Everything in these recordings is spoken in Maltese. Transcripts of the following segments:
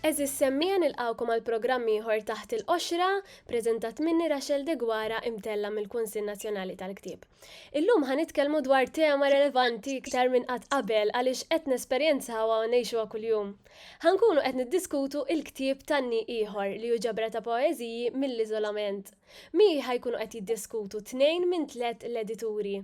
Eżis semmija nilqawkom għal programm ieħor taħt il-qoxra, preżentat minni Rachel Degwara imtella mill-Kunsill Nazzjonali tal-Ktieb. Illum ħa nitkellmu dwar tema relevanti iktar minn qatt qabel għaliex qed nesperjenzawha u ngħixuha kuljum. Ħankunu qed niddiskutu il-ktieb Tanni Ieħor li hu ġabra ta' poeżiji mill-iżolament. Miegħi ħajkunu qed jiddiskutu tnejn minn tliet l-edituri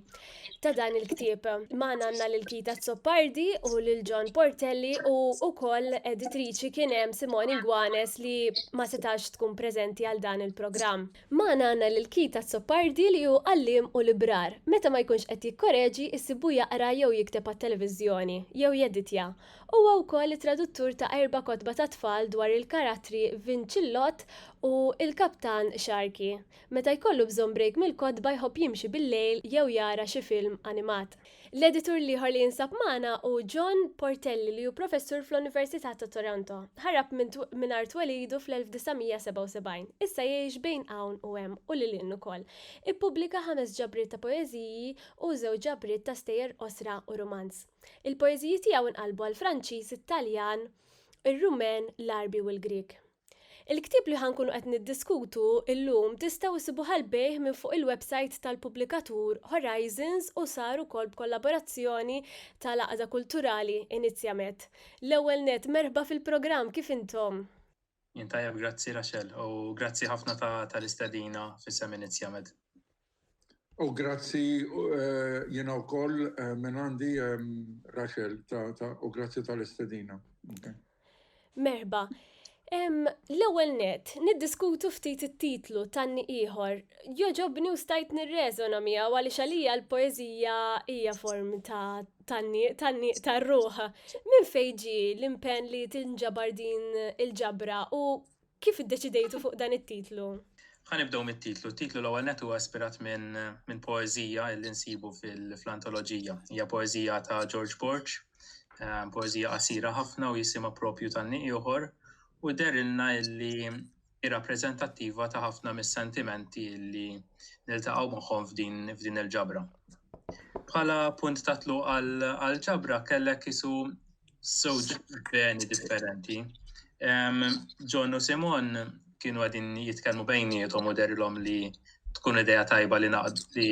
ta' dan il-ktieb. Magħna għandna lil Kita Azzopardi u lil John Portelli u wkoll editriċi kien hemm Simone Ingwanes li ma setax tkun preżenti għal dan il-programm. Magħna għandna lil Keith Azzopardi li hu għalliem u librar. Meta ma jkunx qed jikkoreġi, issibuh jaqra jew jikteb għat-televiżjoni, jew jeditja. Huwa wkoll it-traduttur ta' erba' kotba tat-tfal dwar il-karattri Vin Cillot u l-Kaptan Sharkey. Meta jkollu bżonn brejk mill-kotba jħobb jimxi bil-lejl jew jara xi film animat. L-editur l-ieħor li jinsab magħna hu John Portelli li hu professur fl-Università ta' Toronto. Ħarab mingħajr twelidu fl-1977. Issa jgħix bejn hawn u hemm u lil hinn ukoll. Ippubblika ħames ġabriet ta' poeżiji u żewġ ġabriet ta' stejjer qosra u rumanz. Il-poeżiji tiegħu nqalbu għall-Franċiż, it-Taljan, ir-Rumen, l-Għarbi u l-Grieg. Il-ktieb li ħa nkunu qed niddiskutu llum tistgħu issibuh għall-bejgħ minn fuq il-websajt tal-pubblikatur Horizons u sar ukoll b'kollaborazzjoni tal-Għaqda Kulturali Inizjamed. L-ewwel nett, merħba fil-programm, kif intom? Jien tajjeb grazzi Rachel u grazzi ħafna tal-istedina f'isem Inizjamed. U grazzi jiena wkoll minn għandi Rachel u grazzi tal-istedina. Merħba. L-ewwel nett, niddiskutu ftit it-titlu Tanni Ieħor. Jogħġobni u stajt nirreżona miegħu għaliex għalija l-poeżija hija form ta' tanniq, tanniq tar-ruħ. Minn fejn ġie l-impenn li tinġabar din il-ġabra u Kif iddeċidejtu fuq dan it-titlu? Ħa nibdew mit-titlu. T-titlu l-ewwel nett huwa ispirat minn minn poeżija li nsibu fil-antoloġija. Hija poeżija ta' George Borg, poeżija qasira ħafna u jisimha propju tan-nieq ieħor u dehrilna li hi rappreżentattiva ta' ħafna mis-sentimenti li niltaqgħu magħhom f'din f'din il-ġabra. Bħala punt ta' tluq għall-ġabra kellek isu żewġ beni differenti. John u Simon kienu għadin jitkellmu bejnietom u derilhom li tkun ideja tajba li naqd li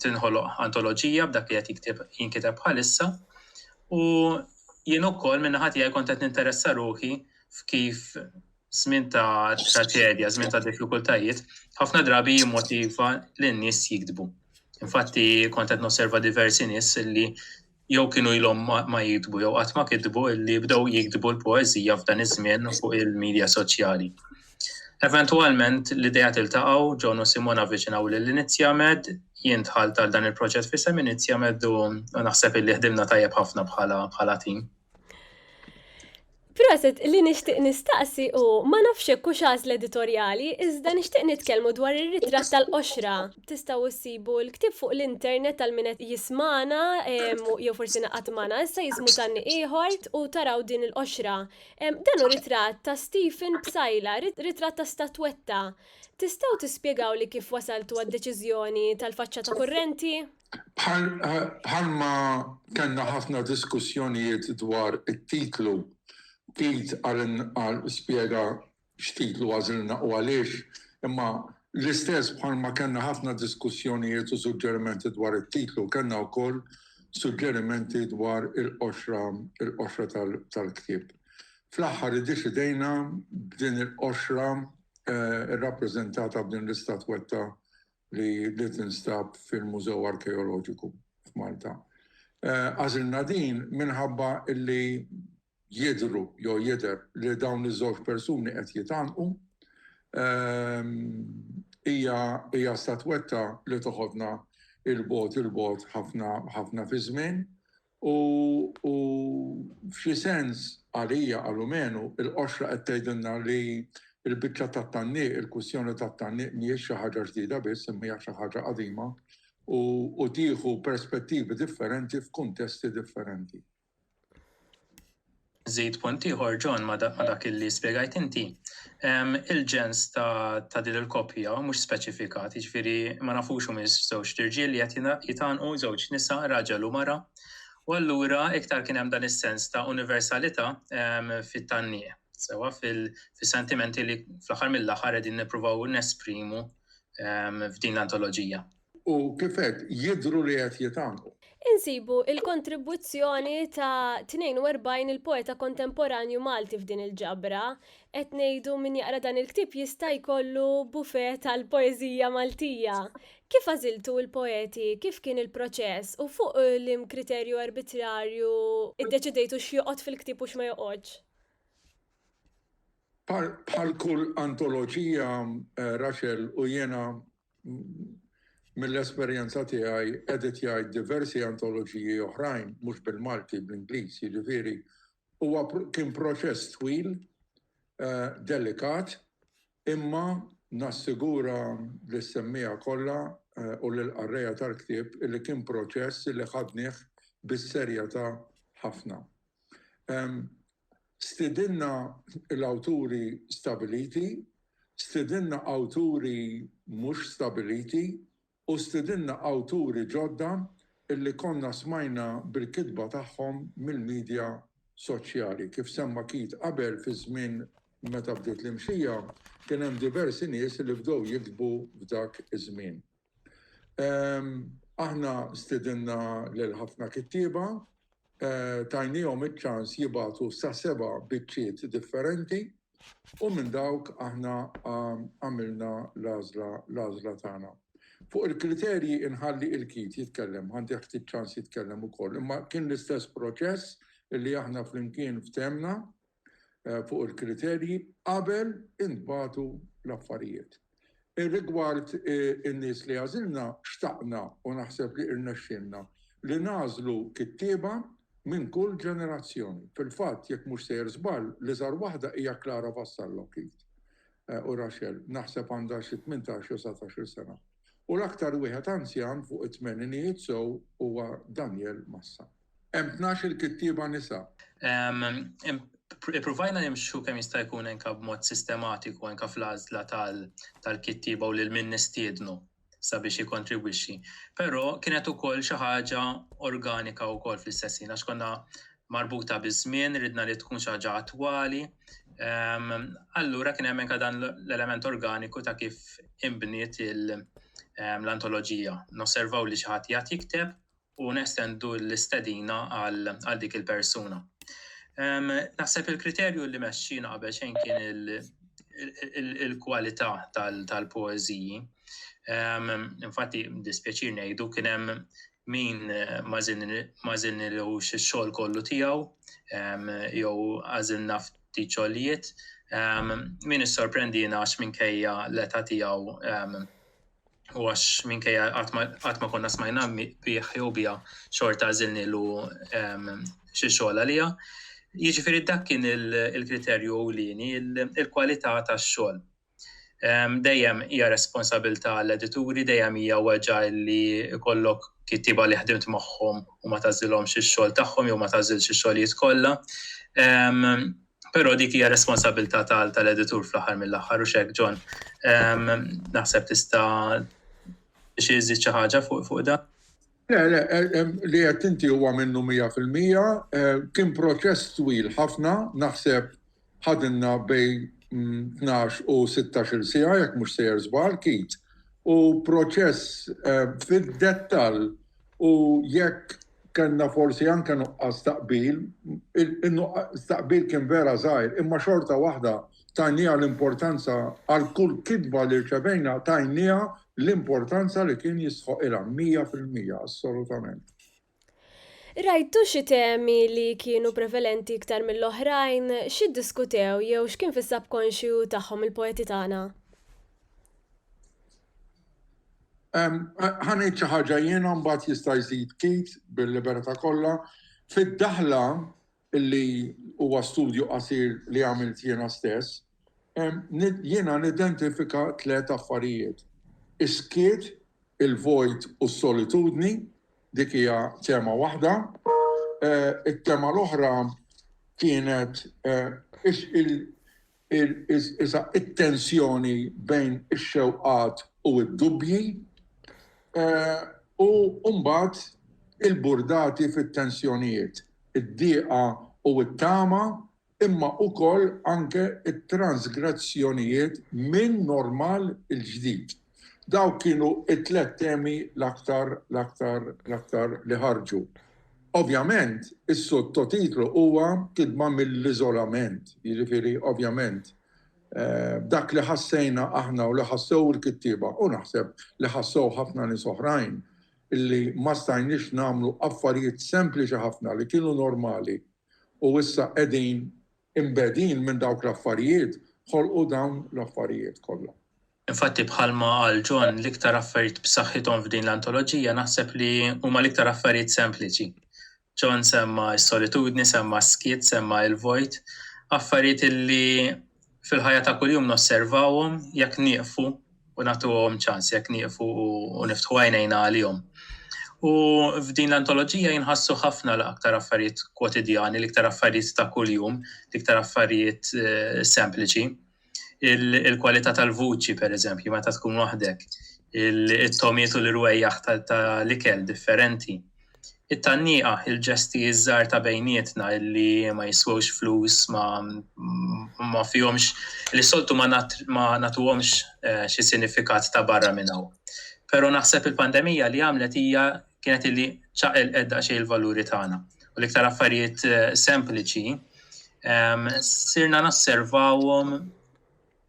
tinħoloq antoloġija b'dak li qed jinkiteb bħalissa. U jien ukoll minn ħati għaj kontet ninteressa ruħi f'kif żmien ta' traċedja, żmien ta' diffikultajiet, ħafna drabi jimmotiva lin-nies jiktbu. Infatti kont qed nosserva diversi nies li jew kienu ilhom ma jiktbu jew qatt ma kitbu li bdew jiktbu l-poeżija f'dan iż-żmien fuq il-midja soċjali. Eventwalment l-idea tiltaqgħu, John u Simon avviċinaw lil Inizjamed, jien dħalt għal dan il-proġett fisem Inizjamed u naħseb illi ħdimna tajjeb ħafna bħala bħala tim. Proset, li nixtieq nistaqsi hu ma nafx hekk hux għażla editorjali, iżda nixtieq nitkellmu dwar ir-ritratt tal-qoxra. Tistgħu ssibu l-ktieb fuq l-internet għal min qed jismagħna jew forsi naqgħad magħna issa jismu Tanni Ieħor u taraw din il-qoxra. Dan hu ritratt ta' Stephen Psaila, ritratt ta' statwetta. Tistgħu tispjegawli kif wasaltu għad-deċiżjoni tal-faċċata kurrenti? Bħalma kellna ħafna diskussjonijiet dwar it-titlu, Keith Arenal spjega x'titlu għażilna u għaliex, imma l-istess bħalma kellna ħafna diskussjonijiet u suġġerimenti dwar it-titlu, kellna wkoll suġġerimenti dwar il-qoxra, il-qoxra tal-ktieb. Fl-aħħar iddeċidejna b'din il-qoxra rrappreżentata b'din l-istatwetta li li tinstab fil-Mużew Arkeoloġiku f'Malta. Għażilna din minħabba li jidhru jew jidher li dawn iż-żewġ persuni qed jitgħannqu. Hija hija statwetta li toħodna 'l bogħod 'il bogħod ħafna ħafna fiż-żmien U f'xi sens, għalija, għal Umenu, il-qoxra qed tgħidilna li l-biċċa tat-tgħanniq, il-kwistjoni tat-tgħanniq mhijiex xi ħaġa ġdida biss imma hija xi ħaġa qadima u tieħu perspettivi differenti f'kuntesti differenti. Żżid punt ieħor, John, ma' dak li spjegajt inti. Il-ġens ta' din il-koppja mhux speċifikat, jiġifieri ma nafux humiex żewġt irġiel li qed jitgħannqu, żewġ nisa, raġel u mara, u allura iktar kien hemm dan is-sens ta' universalità fit-tgħanniq, sewwa, fis-sentimenti li fl-aħħar mill-aħħar qegħdin nippruvaw nesprimu f'din l-antoloġija. U kif għedt, jidhru li qed jitgħannqu. Insibu l-kontribwizzjoni ta' 42 il-poeta kontemporanju Malti f'din il-ġabra. Qed ngħidu min jaqra dan il-ktieb jista' jkollu buffet tal-poeżija Maltija. Kif għażiltu l-poeti, kif kien il-proċess u fuq liem kriterju arbitrarju ddeċidejtu x'joqgħod fil-ktieb u x'ma joqgħodx? Bħal kull antoloġija, Rachel u jiena Mill-esperjenza tiegħi editjajt diversi antoloġiji oħrajn mhux bil-Malti, bl-Ingliż, jiġifieri huwa kien proċess twil, delikat, imma nassigura lis-semmiegħa kollha u lill-qarrejja tal-ktieb li kien proċess li ħadnih bis-serjetà ħafna. Stidinna l-awturi stabiliti, stidinna awturi mhux stabiliti u stidinna awturi ġodda li konna smajna bil-kitba tagħhom mill-midja soċjali. Kif semma Keith qabel, fiż-żmien meta bdiet l-imxija, kien hemm diversi nies li bdew jiktbu f'dak iż-żmien. Aħna stedinna lil ħafna kittieba, tajniehom iċ-ċans jibagħtu sa seba' biċċiet differenti u minn dawk aħna għamilna l-għażla tagħna. Fuq il-kriterji inħalli il-Keith jitkellem, ħantih ftit ċans jitkellem ukoll, imma kien l-istess proċess li aħna flimkien ftehemna fuq il-kriterji qabel intbagħtu l-affarijiet. Rigward in-nies li għażilna, xtaqna, u naħseb li rnexxielna, li nagħżlu kittieba minn kull ġenerazzjoni. Fil-fatt, jekk mhux sejjer żball, l-iżgħar waħda hija Clara Vassallo, Keith u Rachel, naħseb għandha xi tmintax jew satax-il sena, u l-aktar wieħed anzjan fuq it-tmeninijiet sew huwa Daniel Massa. Hemm tnax-il kittieba nisa. Ippruvajna nimxu kemm jista' jkun anke b'mod sistematiku anke fl-għażla tal-kittieba u lil min nistiednu sabiex jikkontribwixxi. Però kienet ukoll xi ħaġa organika wkoll fl-istess ħin għax konna marbuta biż-żmien, ridna li tkun xi ħaġa attwali. Allura kien hemm anke dan l-element organiku ta' kif inbniet l-antoloġija. Nosservaw li xi ħadd jgħid jikteb u nestendu l-istedina għal dik il-persuna. Naħseb il-kriterju li mexxina qabel xejn kien il-kwalità tal-poeżiji. Infatti, dispjaċir ngħidu kien hemm min ma żinilux ix-xogħol kollu tiegħu jew għażilna ftit xogħlijiet. Min issorprendina għax minkejja l-età tiegħu u għax minkejja qatt ma konna smajna bih jew biha xorta għażilnielu ehm, xi xogħol għaliha. Jiġifieri dak kien il-kriterju ewlieni, il-kwalità tax-xogħol. Ehm, dejjem hija responsabilità l-edituri, dejjem hija weġa' li jkollok kittiba li ħdimt magħhom u ma tażilhomx ix-xogħol tagħhom jew ma tażilx ix-xogħlijiet kollha. Ehm, Però dik hija responsabilità tal-editur fl-aħħar mill-aħħar u x'hekk John. Naħseb tista' xi iżżid xi ħaġa fuq dan? Le, le, li qed inti huwa minnu mija fil-mija. Kien proċess twil ħafna, naħseb ħadilna bejn tnax u sittax-il siegħa jekk mhux sejjer żball, Keith. U proċess fid-dettall u jekk Kellna forsi anke nuqqas ta' qbil, in-nuqqas ta' qbil kien vera żgħir, imma xorta waħda tajnieha l-importanza għal kull kitba li rċevejna tajnieha l-importanza li kien jistħoqilha mija fil-mija, assolutament. Rajtu xi temi li kienu prevalenti iktar mill-oħrajn? X'iddiskutew jew x'kien fis-subkonxju tagħhom il-poeti tagħna? Ħa ngħid xi ħaġa jiena mbagħad jista' jżid Keith bil-libertà kollha. Fid-daħla li huwa studju qasir li għamilt jiena stess, jiena nidentifika tliet affarijiet. Is-skiet, il-vojt u s-solitudni, dik hija tema waħda. It-tema l-oħra kienet iżda t-tensjoni bejn ix-xewqat u d-dubbji, u mbagħad il-burdati fit-tensjonijiet, id-dieqa u t-tama, imma ukoll anke t-transgressjonijiet min-normal il-ġdid. Dawk kienu t-tliet temi l-aktar, l-aktar, l-aktar li ħarġu. Ovvjament, is-sottotitlu huwa kidba mill-iżolament, jiġifieri ovvjament dak li ħassejna aħna u li ħassew il-kittieba u naħseb li ħassew ħafna nies oħrajn li ma stajniex nagħmlu affarijiet sempliċi ħafna li kienu normali u issa qegħdin imbegħdin minn dawk l-affarijiet, ħolqu dawn l-affarijiet kollha. Infatti bħalma qal John, l-iktar affarijiet b'saħħithom f'din l-antoloġija naħseb li huma l-iktar affarijiet sempliċi. John semma s-solitudni, semma s-skiet, semma il-vojt, affarijiet li fil-ħajja ta' kuljum nosservawhom jekk nieqfu u nagħtuhom ċans, jekk nieqfu u niftħu għajnejna għalihom. U f'din l-antoloġija jinħassu ħafna l-aktar affarijiet kwotidjani, l-iktar affarijiet ta' kuljum, l-iktar affarijiet eh, sempliċi. il-kwalità tal-vuċi, per eżempju, meta tkun waħdek, il-tomiet u l-rwejjaħ tal-ikel differenti. It-tanniqa, il-ġesti iż-żar ta' bejnietna li ma jiswewx flus, ma fihomx, li soltu ma natuhomx eh, xi sinifikat ta' barra minn hawn. Pero naħseb il-pandemija li għamlet hija kienet illi ċaqilqet daqsxejn il-valuri tagħna. U l-iktar affarijiet eh, sempliċi ehm, sirna nasservawhom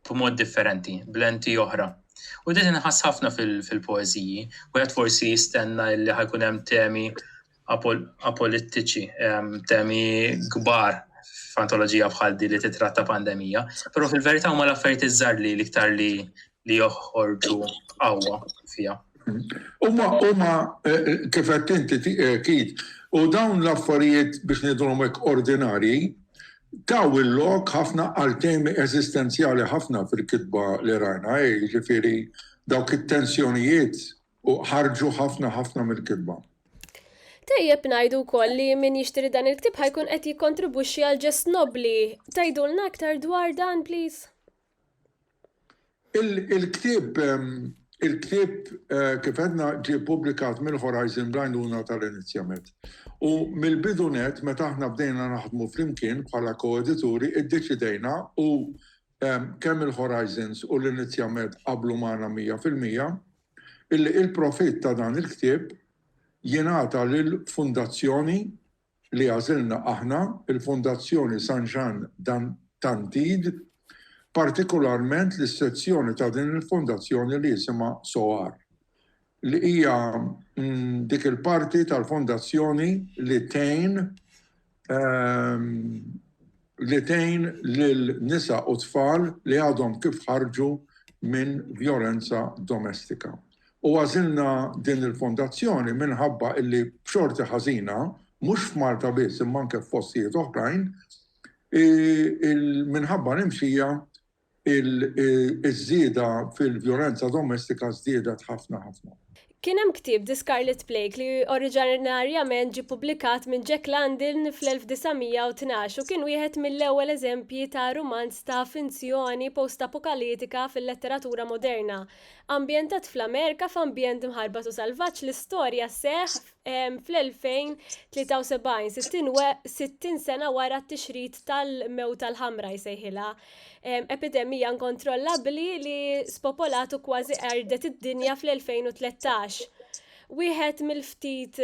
b'mod differenti, blenti oħra. U din inħass ħafna fil-poeziji, u għed forsi jistenna illi ħajkun hemm temi apolitiċi, ehm, temi kbar f'antoloġija bħal di li titratta pandemija, però fil-verità huma l-affarijiet iżżar li l-iktar li li joħorġu qawwa fiha. Huma huma kif qed inti kid u dawn l-affarijiet biex ngħidulhom hekk ordinarji taw il-lok ħafna għal temi eżistenzjali ħafna fil-kitba li rajna, jiġifieri dawk it-tensjonijiet u ħarġu ħafna ħafna mill-kitba. Tejjeb ngħidu wkoll li min jixtri dan il-ktib ħajkun qed jikkontribwixxi għal ġest nobbli. Tgħidulna aktar dwar dan, please? Il-ktieb, il-ktieb kif għedna ġie ppubblikat mill-Horizon bl-għajnuna tal-Inizjamed. U mill-bidu nett meta aħna bdejna naħdmu flimkien bħala ko-edituri iddeċidejna u kemm il-Horizons u l-Inizjamed qablu magħna mija fil-mija illi il-profitt ta' dan il-ktieb jingħata lill-Fundazzjoni li għażilna aħna, il-Fondazzjoni San Jan d'Antide, partikularment lis-sezzjoni ta' din il-Fondazzjoni li jisimha SOAR, li hija dik il-parti tal-Fondazzjoni li tgħin li tgħin lil nisa u tfal li għadhom kif ħarġu minn vjolenza domestika. U għażilna din il-fondazzjoni minħabba li b'xorti ħażina, mhux f'Malta biss imma anke f'postijiet oħrajn, minħabba l-imxija iż-żieda fil-vjolenza domestika żdiedet ħafna ħafna. Kien hemm ktieb The Scarlet Plague li oriġinarjament ġie ppubblikat minn Jack London fl-1912 u kien wieħed mill-ewwel eżempji ta' rumanz ta' finzjoni postapokalitika fil-letteratura moderna. Ambjentat fl-Amerika f'ambjent mħarbat u salvaġġ, l-istorja sseħħ fl-2073, 60 sena wara t-tixrid tal-mewt tal-ħamra jsejħilha, epidemija nkontrollabbli li spopolatu kważi erdet id-dinja fl-2013. Wieħed mill-ftit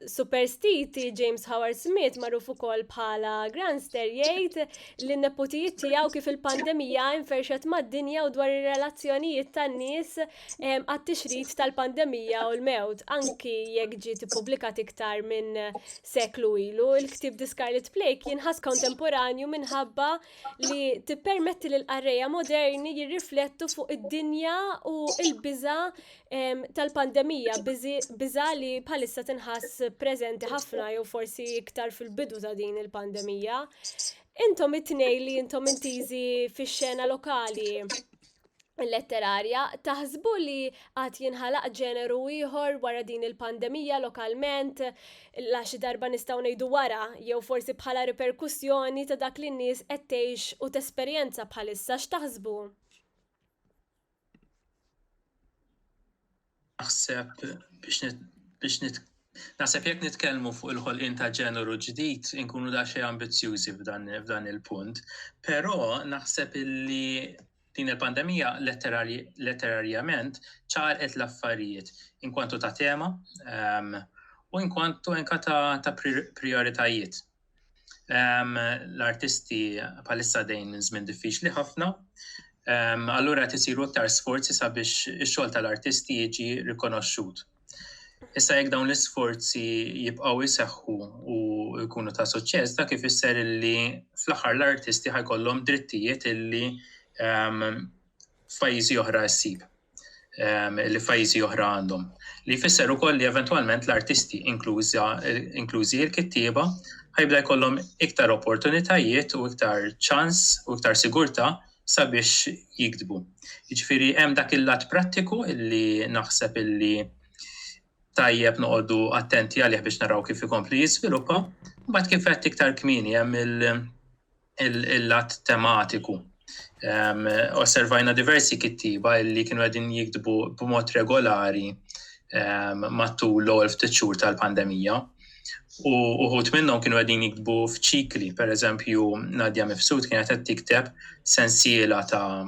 superstiti James Howard Smith magħruf ukoll bħala Granster jgħid li n-neputijiet tiegħu kif il-pandemija inferxet mad-dinja u dwar ir-relazzjonijiet tan-nies għat-tixrid tal-pandemija u l-mewt, anki jekk ġiet ippubblikat iktar minn seklu ilu, il-ktieb The Scarlet Plague jinħass kontemporanju minħabba li tippermetti lil qarrejja moderni jirriflettu fuq id-dinja u l-biża tal-pandemija, biża li bħalissa tinħass preżenti ħafna jew forsi iktar fil-bidu ta' din il-pandemija. Intom it-tnej li intom intiżi fix-xena lokali, letterarja, taħsbu li għad jinħalaq ġeneru ieħor wara din il-pandemija lokalment, la xi darba nistgħu ngħidu wara, jew forsi bħala riperkussjoni ta' dak li n-nies qed tgħix u tesperjenza bħalissa x'taħsbu? Naħseb biex biex nit Naħseb jekk nitkellmu fuq il-ħolqien ta' ġeneru ġdid inkunu da xejn ambizzjużi f'dan il-punt, però naħseb illi din il-pandemija letterarjament ċarqet l-affarijiet inkwantu ta' tema ehm, u inkwantu enka ta', ta prioritajiet. L-artisti bħalissa dejn minn żmien diffiċli ħafna. Allura qed isiru aktar sforzi sabiex ix-xogħol tal-artisti jiġi rikonoxxut. Issa jekk dawn l-isforzi jibqgħu jseħħu u jkunu ta' suċċess, dak ifisser li fl-aħħar l-artisti ħajkollhom drittijiet illi f'pajjiżi oħra ssib, li f'pajjiżi oħra għandhom. Li jfisser ukoll li eventwalment l-artisti, inklużi l-kittieba, ħajbda jkollhom iktar opportunitajiet u iktar ċans u iktar sigurtà sabiex jiktbu. Jiġifieri hemm dak il-lat prattiku li naħseb illi tajjeb noqogħdu attenti għalih biex naraw kif ikompli jiżviluppa, mbagħad kif qed iktar kmieni hemm il- il-lat tematiku. Um, osservajna diversi kittiba illi kienu għedin jikdbu b'mod regolari um, matul l-ewwel ftit xhur tal-pandemija. U uħut minnhom kienu għedin jikdbu f'ċikli, per eżempju, Nadja Mifsud kienet qed tikteb sensiela ta'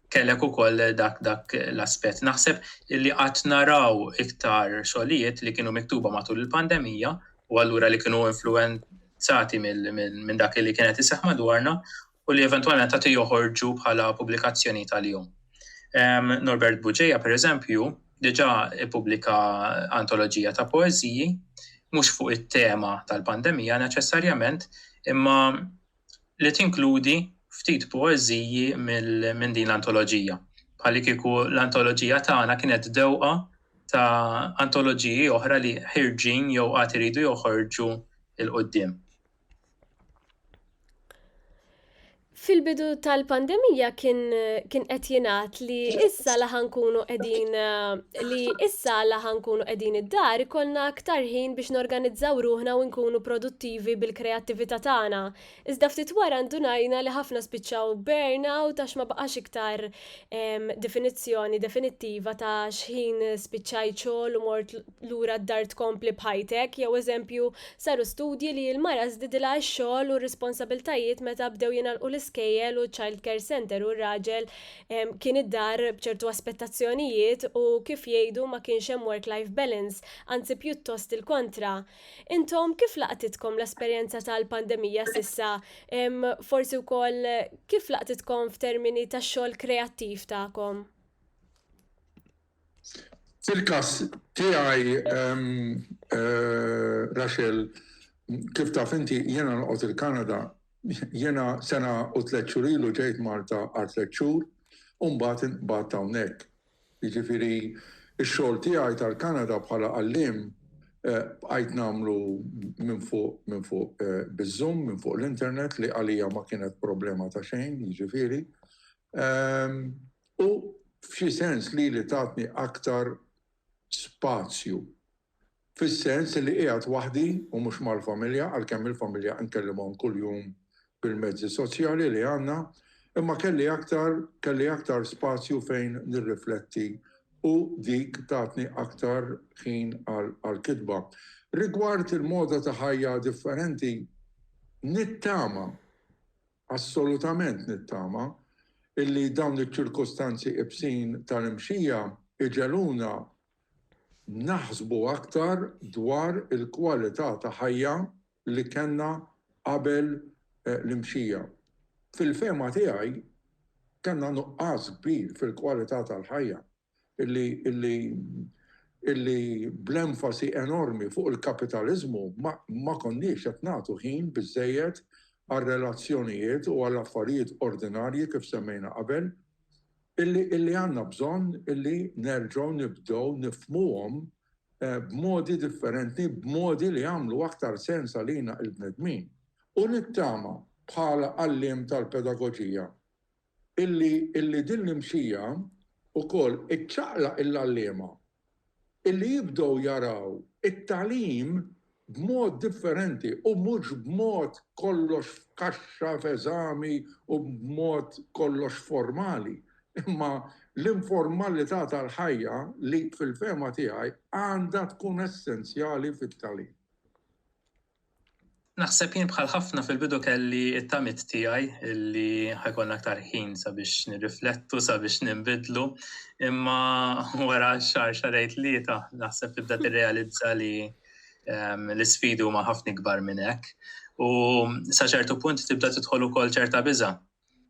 kellek ukoll dak dak l-aspett. Naħseb li qatt naraw iktar xogħlijiet li kienu miktuba matul il-pandemija u allura li kienu influenzati minn dak li kienet iseħħ madwarna u li eventwalment qed joħorġu bħala pubblikazzjoni tal-jum. Norbert Buġeja, per eżempju, diġa ippubblika antoloġija ta' poeziji, mhux fuq it-tema tal-pandemija neċessarjament, imma li tinkludi ftit poeżiji minn din l-antoloġija, bħalikieku l-antoloġija tagħna kienet dewqa ta' antoloġiji oħra li ħirġin jew għad iridu joħorġu 'l quddiem. Fil-bidu tal-pandemija kien qed jingħad li issa laħa nkunu qegħdin eh, li issa la ħa nkunu qegħdin id-dar ikollna aktar ħin biex norganizzaw ruħna u nkunu produttivi bil-kreattività tagħna, iżda ftit wara ndunajna li ħafna spiċċaw b'burnout għax ma baqax iktar definizzjoni definittiva ta' x'ħin spiċċajt xogħol u mort lura d-dar tkompli b'ħajtek jew eżempju saru studji li l-mara żdidilha x-xogħol u r-responsabiltajiet meta bdew jingħalqu l-iskejjel u ċ-childcare centre u r-raġel Kien id-dar b'ċertu aspettazzjonijiet u kif jgħidu ma kienx hemm work-life balance, anzi pjuttost il-kontra. Intom kif laqtitkom l-esperjenza tal-pandemija s'issa? Forsi wkoll kif laqtitkom f'termini tax-xogħol kreattiv tagħkom? Fil-każ tiegħi Rachel, kif taf inti, jiena noqgħod il-Kanada. Jiena sena u tliet xhur ilu ġejt Malta għal tliet xhur u mbagħad inqbadt hawnhekk. Jiġifieri x-xogħol tiegħi tal-Kanada bħala għalliem bqajt nagħmlu minn fuq minn fuq biz-Zoom, minn fuq l-internet li għalija ma kienet problema ta' xejn, jiġifieri. U f'xi sens lili tatni aktar spazju. Fis-sens li qiegħed waħdi u mhux mal-familja, għalkemm il-familja nkellimhom kuljum bil-mezzi soċjali li għandna, imma kelli aktar kelli aktar spazju fejn nirrifletti u dik tatni aktar ħin għall-kitba. Rigward il-moda ta' ħajja differenti, nittama Assolutament nittama illi dawn iċ-ċirkustanzi ibsin tal-imxija jġegħluna naħsbu aktar dwar il-kwalità ta' ħajja li kellna qabel l-imxija. Fil-fehma tiegħi kellna nuqqas kbir fil-kwalità tal-ħajja. illi bl-enfasi enormi fuq il-kapitaliżmu ma konniex qed nagħtu ħin biżżejjed għar-relazzjonijiet u għall-affarijiet ordinarji kif semmejna qabel, illi għandna bżonn illi nerġgħu nibdew nifhmuhom b'modi differenti, b'modi li jagħmlu aktar sens għalina l-bnedmin. U nittama, bħala għalliem tal-pedagoġija, Illi, illi din l-imsija wkoll iċċaqlaq il-għalliema, illi jibdew jaraw it-tagħlim b'mod differenti u mhux b'mod kollox f'kaxxa, f'eżami u b'mod kollox formali, imma l-informalità tal-ħajja li, fil-fehma tiegħi, għandha tkun essenzjali fit-tagħlim. Naħseb jien bħal ħafna fil-bidu kelli t-tamiet tiegħi li ħajkollna aktar ħin sabiex nirriflettu, sabiex ninbidlu, imma wara xar xarej tlieta naħseb tibda tirrealizza li ehm, l-isfidi huma ħafna ikbar minn hekk. U sa ċertu punt tibda tidħol ukoll ċerta biża'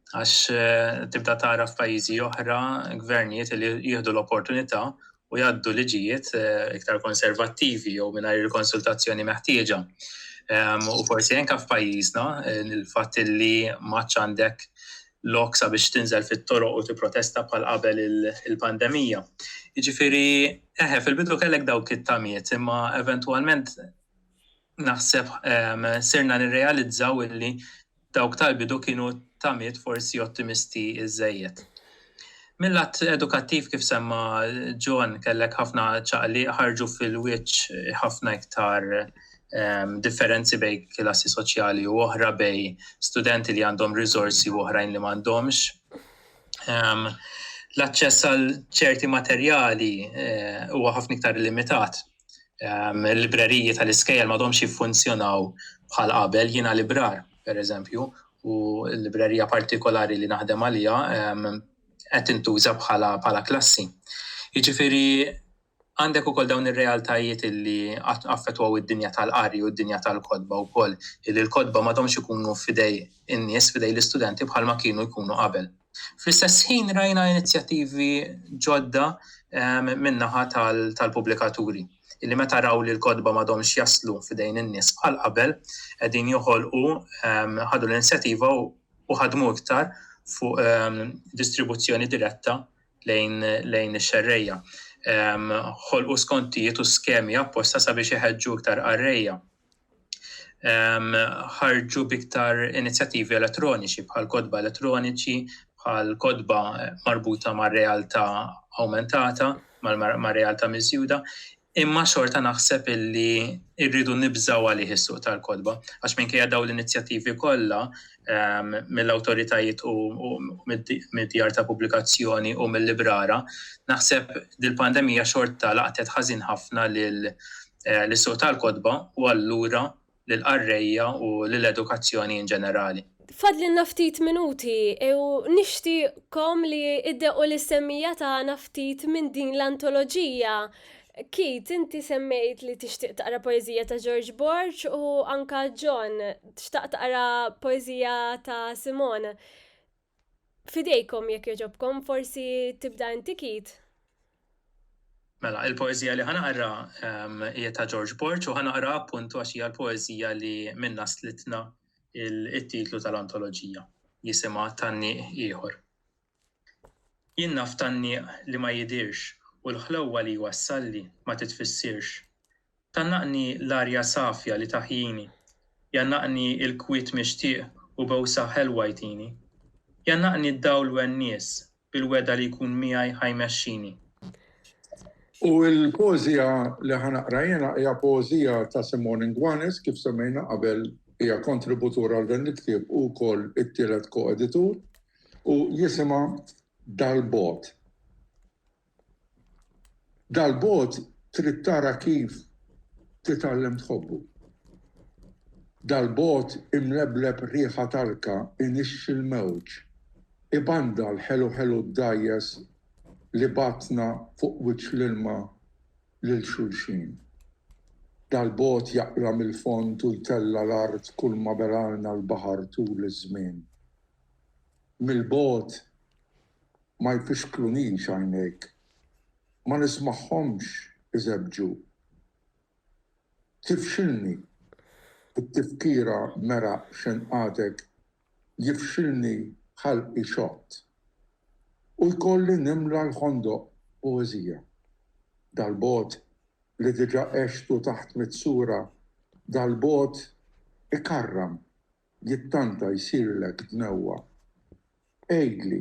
għax tibda tara f'pajjiżi oħra gvernijiet li jieħdu l-opportunità u jgħaddu liġijiet eh, iktar konservattivi jew mingħajr il-konsultazzjoni meħtieġa. Ehm, u forsi anke f'pajjiżna eh, il-fatt li maċ għandek lok sabiex tinżel fit-toroq u tipprotesta bħal qabel il-pandemija. Jiġifieri, eħe, fil-bidu kellek dawk it-tamiet, imma eventwalment naħseb ehm, sirna nirrealizzaw illi dawk tal-bidu kienu tamiet forsi ottimisti iżżejjed. Mill-lat edukattiv kif semma John kellek ħafna ċaqli ħarġu fil-wiċċ ħafna iktar ehm, differenzi bej klassi soċjali u oħra bej studenti li għandhom riżorsi u oħrajn li m'għandhomx. Ehm, l-aċċess għal ċerti materjali eh, huwa ħafna iktar limitat ehm, il-libreriji tal-iskejjel m'għadhomx jiffunzjonaw bħal qabel jiena librar, pereżempju, u l-librerija partikolari li naħdem għalija ehm, qed intuża bħala bħala klassi. Jiġifieri għandek ukoll dawn ir-realtajiet li affettwaw id-dinja tal-qari u d-dinja tal-kodba wkoll, li l-kodba m'għadhomx ikunu fidej in-nies, fidej l-istudenti bħalma kienu jkunu qabel. Fl-istess ħin rajna inizjattivi ġodda min-naħa tal-pubblikaturi illi meta raw li l-kotba m'għadhomx jaslu f'idejn in-nies bħal qabel qegħdin joħolqu ħadu l-inizjattiva u ħadmu iktar fuq distribuzzjoni diretta lejn ix-xerrejja. Ħolqu skontijiet u skemi apposta sabiex iħeġġu iktar qarrejja. ħarġu biktar inizjattivi elettroniċi bħal kodba elettroniċi, bħal kodba marbuta ma' realtà aumentata, ma' realtà miżjuda, imma xorta naħseb illi irridu nibżaw għalih is-suq tal-kodba, għax minkejja daw l-inizjattivi kollha ehm, mill-awtoritajiet u mid-djar ta' pubblikazzjoni u mill-librara, naħseb dil-pandemija xorta laqtet ħażin ħafna lil eh, l-suq tal-kodba u allura l qarrejja u l-edukazzjoni in ġenerali. Fadli naftit minuti u nixtieqkom li iddequ l-semmija ta' naftit minn din l-antoloġija Keith, inti semmejt li tixtieq taqra poeżija ta' George Borg u anka John xtaq taqra poeżija ta' Simone. Fidejkom jekk jogħġobkom, forsi tibda inti Keith? Mela, il-poeżija li ħa naqra hija ta' George Borg u ħa naqra appuntu għax hija l-poeżija li minnha stlitna t-titlu tal-antoloġija, jisimha Tgħanniq Ieħor. Jien naf tgħanniq li ma jidhirx u l-ħlewwa li jwassalli ma titfissirx. Tgħannaqni l-arja safja li taħjini, jgħannaqni l-kwiet mixtieq u bowsa ħelwa jtini. Jgħannaqni d-dawl wennies bil-wegħda li jkun miegħi ħa jmexxini. U l-poeżija li ħa naqra jiena hija poeżija ta' Simone Nguanes, kif semmejna qabel hija kontributur għal dan il-ktieb u wkoll it-tielet ko-editur. U jisimha Dal-Bogħod. Dal-Bogħod trid tara kif titgħallem tħobbu. Dal-Bogħod imlebleb riħa talka inixxi l-mewġ, ibanda l-ħelu ħelu d-dgħajjes li bagħatna fuq wiċċ l-ilma lil xulxin. Dal-Bogħod jaqla' mill-fond u jtella' l-art kulma belgħalna l-baħar tul iż-żmien. mill-bogħod ma jfixklunix għajnejk, ma nismagħhomx iżebbġu. Tifxilni t-tifkira meraq xenqatek, jifxilni ħalqi xott. U jkolli nimla l-ħondoq poeżija. Dal-bogħod li diġà għextu taħt mitt sura, dal-bogħod ikarram Jekk tant jsirlek dnewwa, għidli,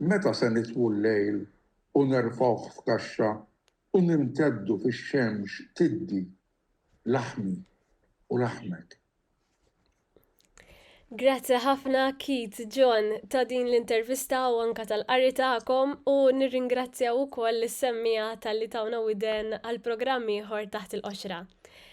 Meta se nitfu l-lejl u nerfgħuh f'kaxxa u nimteddu fix-xemx tiddi, laħmi u laħmek? Grazzi ħafna Keith, John, ta' din l-intervista u anke tal-qari tagħkom u nirringrazzja wkoll lis-semmiegħa talli tawna widen għal programm ieħor Taħt il-Qoxra.